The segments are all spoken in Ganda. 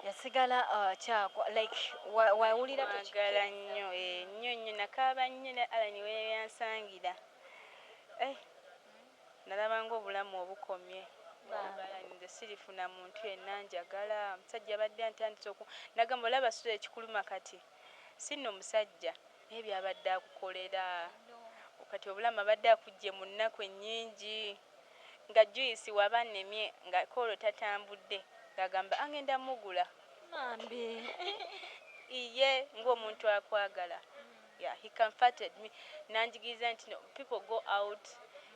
yasigala akyagwa like wawulira mwagala nnyo eh, nnyo nnyo nakaaba nnyo ne alani weyansangira eh, nalaba ngaobulamu obukomye alani nze sirifuna muntu yenna njagala omusajja abadde antandise oku nagamba olaba sula ekikuluma kati sinno musajja Naye byabadde akukolera kati obulamu abadde akujje munnaku ennyingi nga juice waba annemye nga ko olwo tatambudde nga agamba angenda mugula Bambi iye nga omuntu akwagala yeah he comforted me nanjigiriza nti no people go out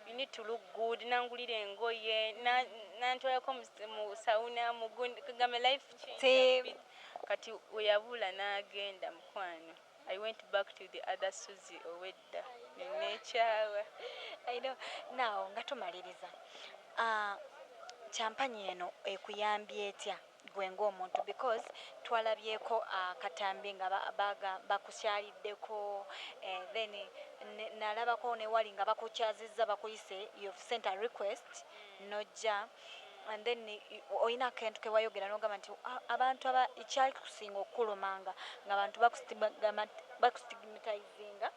you need to look good nangulira engoye na nantwalako mu mu sauna mugundi kagame life change a bit kati weyabula nagenda mukwano. I went back to the other Suzie owedda nenekyawa I know now nga tumaliriza aah champanye eno ekuyambye etya gwe nga omuntu because twalabyeko akatambi nga bakukyaliddeko then nalabako newali nga bakukyaziza bakuyise you've sent a request nojja. and then olina akentu kewayogera nogamba nti abantu aba ekyalikusinga okukuluma nga nga bantu bakustigmatizinga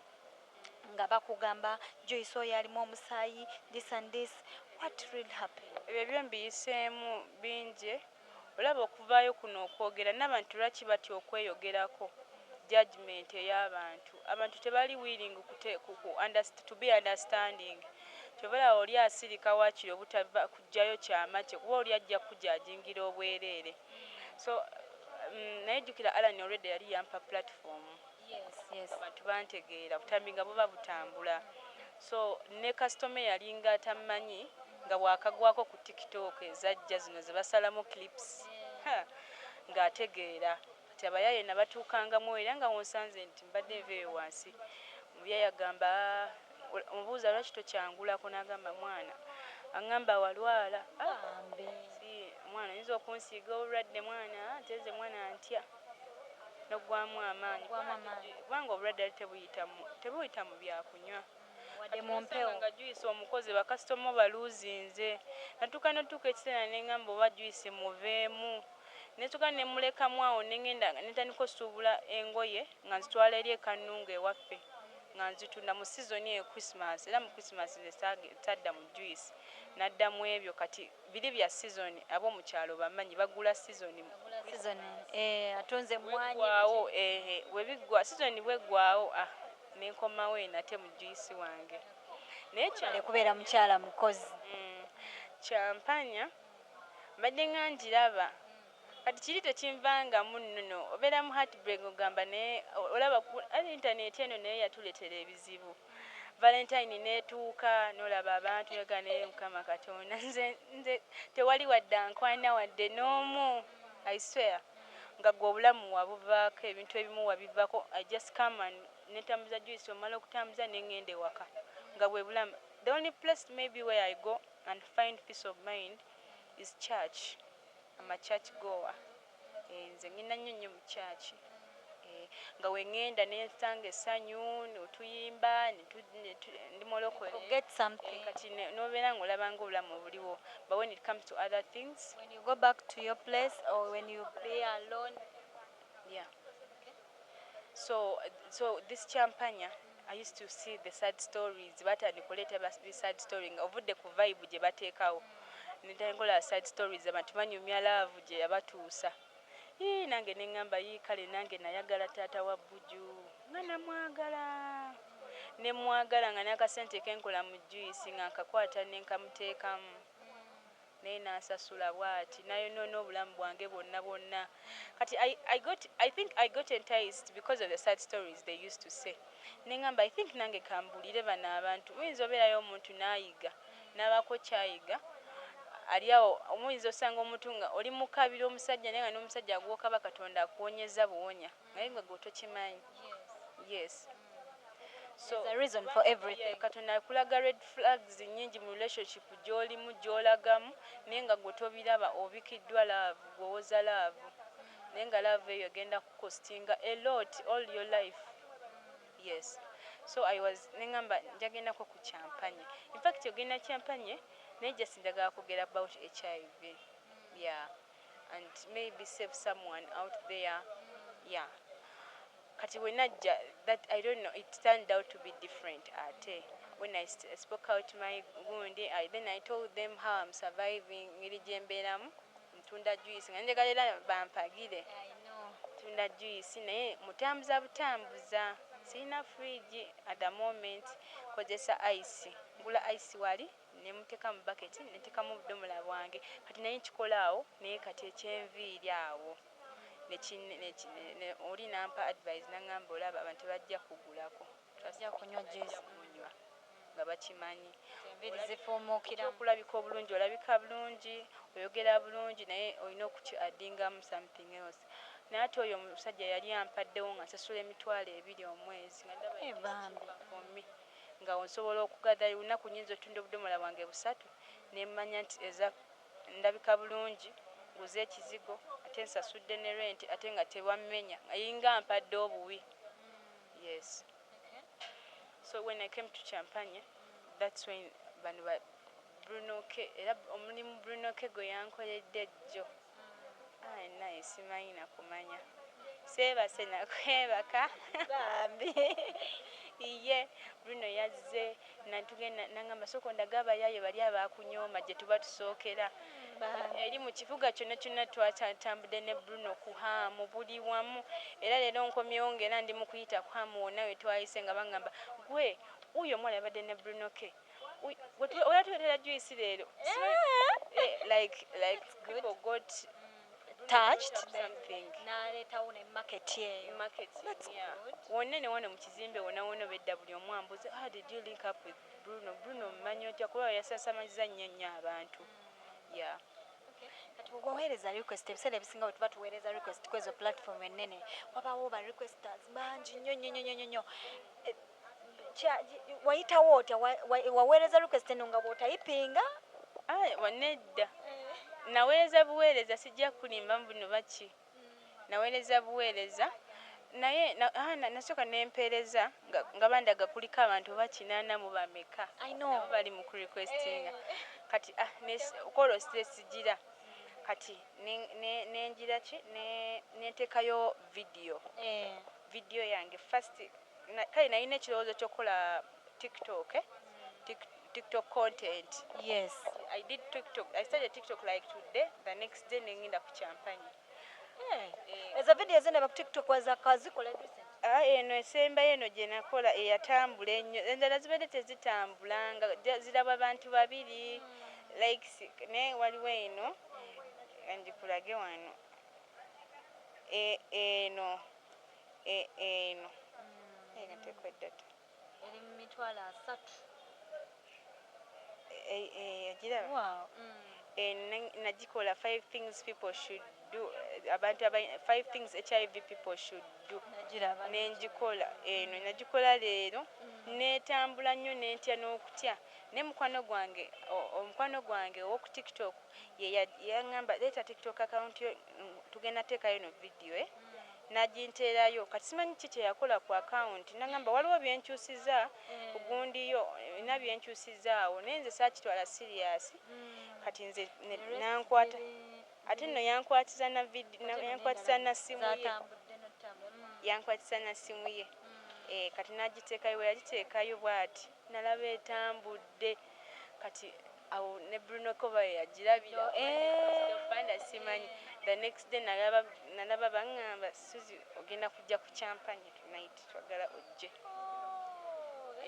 nga bakugamba joyce oyo alimu omusayi this and this what really happened ebyo byo mbiyisemu binji olaba okuvayo kuno okwogera nabantu lwaki batya okweyogerako judgement eyabantu abantu tebali willing to be understanding Kyova olaba oli asilika wakiri obutava kujjayo kyama kye kuba oli ajja kukujajingira obwerere so umm naye jukira Allan already yali yampa platform abantu bantegeera obutambi nga buba butambula so ne customer eyalinga atammanyi nga bwakagwako ku tiktok ezajja zino zebasalamu clips haa nga ategeera kati abayaye nabatuukangamu era nga wonsanze nti mbadde nva eyo wansi omuyaye agamba Omubuuza lwaki tokyangulako nagamba mwana angamba walwala bambi mwana oyinza okunsiiga obulwadde mwana ate nze mwana ntya nogwamu amaanyi kubanga obulwadde yali tebuyita mubyakunywa kati nasanga nga juice omukoze bakasitoma obaluuzinze natuuka notuuka ekiseera nengamba oba juice muveemu netuuka nemulekamu awo nengenda nentandika osuubula engoye nga nzitwala eri ekanungu ewaffe. nga nzitunda mu sizoni eyo Christmas era mu Christmas nze saage sadda mu juice nadda mwebyo kati biri bya sizoni abomukyalo bamanyi bagula sizoni Sizoni eeh atunze emmwanyi bweggwaawo biki? eeh bwebiggwa sizoni bweggwaawo ah nenkomawo eyo nate mu juice wange naye kya Webale kubeera mukyala mukozi. Umm kyampanya mbadde nga ngiraba. Kati kiri tekinvangamu nnono obeera mu heartbreak nga ogamba naye olaba kuba internet eno nayo yatuletera ebizibu valentine netuuka nolaba abantu noga naye mukama katonda nze nze tewali wadde ankwana wadde noomu I swear nga gwe obulamu wabuvaako ebintu ebimu wabivako I just come and netambuza juice omala okutambuza nengenda ewaka nga bwebulamu the only place maybe where I go and find peace of mind is church. Am a church goer eeh nze ngenda nnyo nnyo mu church eeh nga wengenda nensanga essanyu notuyimba ndi mulokole eeh kati nobeera nga olaba nga obulamu obuliwo but when it comes to other things. When you go back to your place or when you be alone yeah. So so this kyampanya I used to see the sad stories batandika oleeta ba sad story nga ovudde ku vibe gyebateekawo netandika olaba sad stories abantu banyumya love gyeyabatuusa yii nange nengamba yii kale nange nayagala taata wa Buju nga namwagala nemwagala nga nakasente kenkola mu juice nga nkakwata nenkamuteekamu. naye nansasula bwati nayonona obulamu bwange bwonna bwonna kati I I got I think I got enticed because of the sad stories they used to say nengamba I think nange kambulire bano abantu muyinza oberayo omuntu nayiga nabako kyayiga ali awo muyinza osanga omuntu nga oli mukabira omusajja naye nga nomusajja gwokaba katonda akuwonyezza buwonya. Naye gwe gwe tokimanyi yes so katonda akulaga red flags nyingi mu relationship gyolimu gyolagamu naye nga gwe tobiraba obikidwa love gwe owoza love naye nga love eyo egenda kukostinga a lot all your life yes so i was nengamba njagendako ku champanye infact ogenda champanye naye just njagala kogera about HIV yeah. and may be save someone out there yeah kati wenajja that I don't know it turned out to be different ate when I spoke out my gundi I then I told them how I'm surviving ngeri gyembeeramu ntunda juice nga njagala era bampagire tunda juice naye mutambuza butambuza sirina fridge at the moment kozesa ice ngula ice wali ne muteeka mu bucket ne ntekamu obudomola bwange kati nali nkikola awo naye kati ekyenviiri awo oli nampa advise nangamba olaba abantu tebajja kugulako trust me bajja kumunywa nga bakimanyi ekyokulabika obulungi olabika bulungi oyogera bulungi naye olina oku ki addingamu something else naye ate oyo omusajja yali ampaddewo nga nsasula emitwalo ebiri omwezi nga ndaba yinvesiti for me. nga awo nsobola okugather buli lunaku nyinza otunda obudomola bwange busatu nemmanya nti eza ndabika bulungi nguze ekizigo ate nsasudde ne rent ate nga tebammenya alinga ampadde obuwi yes so when I came to champanya that's when bano ba brunoke era omulimu brunoke gweyankoledde jjo Ayi naye simanyi na kumanya. Seebase na kwebaka bambi. Iyee Bruno yazze nantuge nangamba sooka ondage abayaaye bali abaakunyooma gye tuba tusookera. Eri mu kibuga kyonna kyonna twatantambudde ne Bruno ku Ham buli wamu era leero nkomyewo ng'era ndi mu kuyita ku Ham wonna we twayise nga bangamba, Ggwe wuuyo omuwala yabadde ne Bruno Kay? Oya tuletera juice lero. Eh, like like people got mm. touched something. Naleta one market yeyo. Market. That's yeah. good. Wonna ne wano mu kizimbe wonna wonna bedda buli omu ambuze how did you link up with Bruno? Bruno mmanyi otya kuba yasasamaliza nnyo nnyo abantu. Mm. Yeah. waweereza request ebiseera ebisinga bwe tuba tuweereza request kwezo platform ennene wabaawo ba requesters bangi nnyo nnyo nnyo nnyo nnyo Kya, wayitawo otya? Wa, wa, waweereza request eno nga bw'otayipinga? Ayi, wa, nedda. Naweereza buweereza, sijja kukulimba mbu noba ki. Naweereza buweereza. Naye, na, ah, na, nasooka ne mpeereza nga, nga bandaga kuliko abantu oba kinaana mu bameka nabo bali mu ku requestinga. Kati, ah, ne, kw'olwo sitesijira. Kati ne, ne, ne ngira ki, ne, ne nteekayo vidiyo, vidiyo yange first. Kale nalina ekirowoozo kyokukola tiktok tik tiktok content yes kati I did tiktok I started tiktok like today the next day nengenda ku kyampanye eeh ezo video zenaba ku tiktok wazikola recent? Aah eno esembayo eno gyenakola eyatambula ennyo endala zibadde tezitambula nga just zirabwa bantu babiri likes naye waliwo eno kanjikulage wano eeh eno. E, eno. Mm. Eno tekwedda dda. Eri mu mitwalo asatu. E, e, ogiraba? Wow. Mm. Eno nagikola five things people should do abantu aba five things hiv people should do nenjikola eno eh, najikola leero mm. netambula nnyo nentya n'okutya naye mukwano gwange omukwano gwange owoku tiktok yeyaŋamba leeta tiktok account yo tugenda teekayo no vidiyo eh? n'aginterayo kati simanyi ki kye yakola ku akawunti n'angamba waliwo bye nkyusizza ku gundi yo olina bye nkyusizzaawo naye nze saakitwala siriyaasi kati nze ne n'ankwata ate nno yankwatiza na vidi yankwatiza na ssimu ye yankwatiza na ssimu ye kati n'agiteekayo bwe yagiteekayo bwati nalaba etambudde. Kati awo ne Bruno Koba yeyajilabira or eeh of Banda simanyi the next day nalaba nalaba bangamba Suzie ogenda kujja ku champanya tonight twagala ojje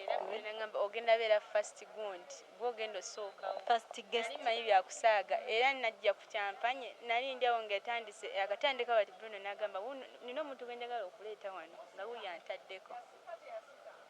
era Bruno nangamba ogenda beera first gundi gwe ogenda osooka wo first guest nali manyi byakusaaga era najja ku champanya nali ndi awo nga etandise yakatandika but Bruno nagamba wuuno nina omuntu gwenjagala okuleeta wano nga wuyo antaddeko.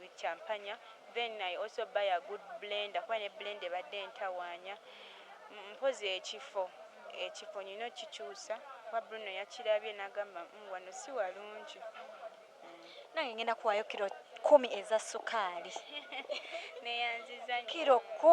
with champanya then I also buy a good blender kuba ne blender ebadde entawanya mpozi ekifo ekifo nyina okikyusa kuba Bruno yakirabye nagamba umm wano siwalungi umm. Nange ngenda kuwayo kilo kumi eza sukaali. Neyanziza nyo. Kilo kumi.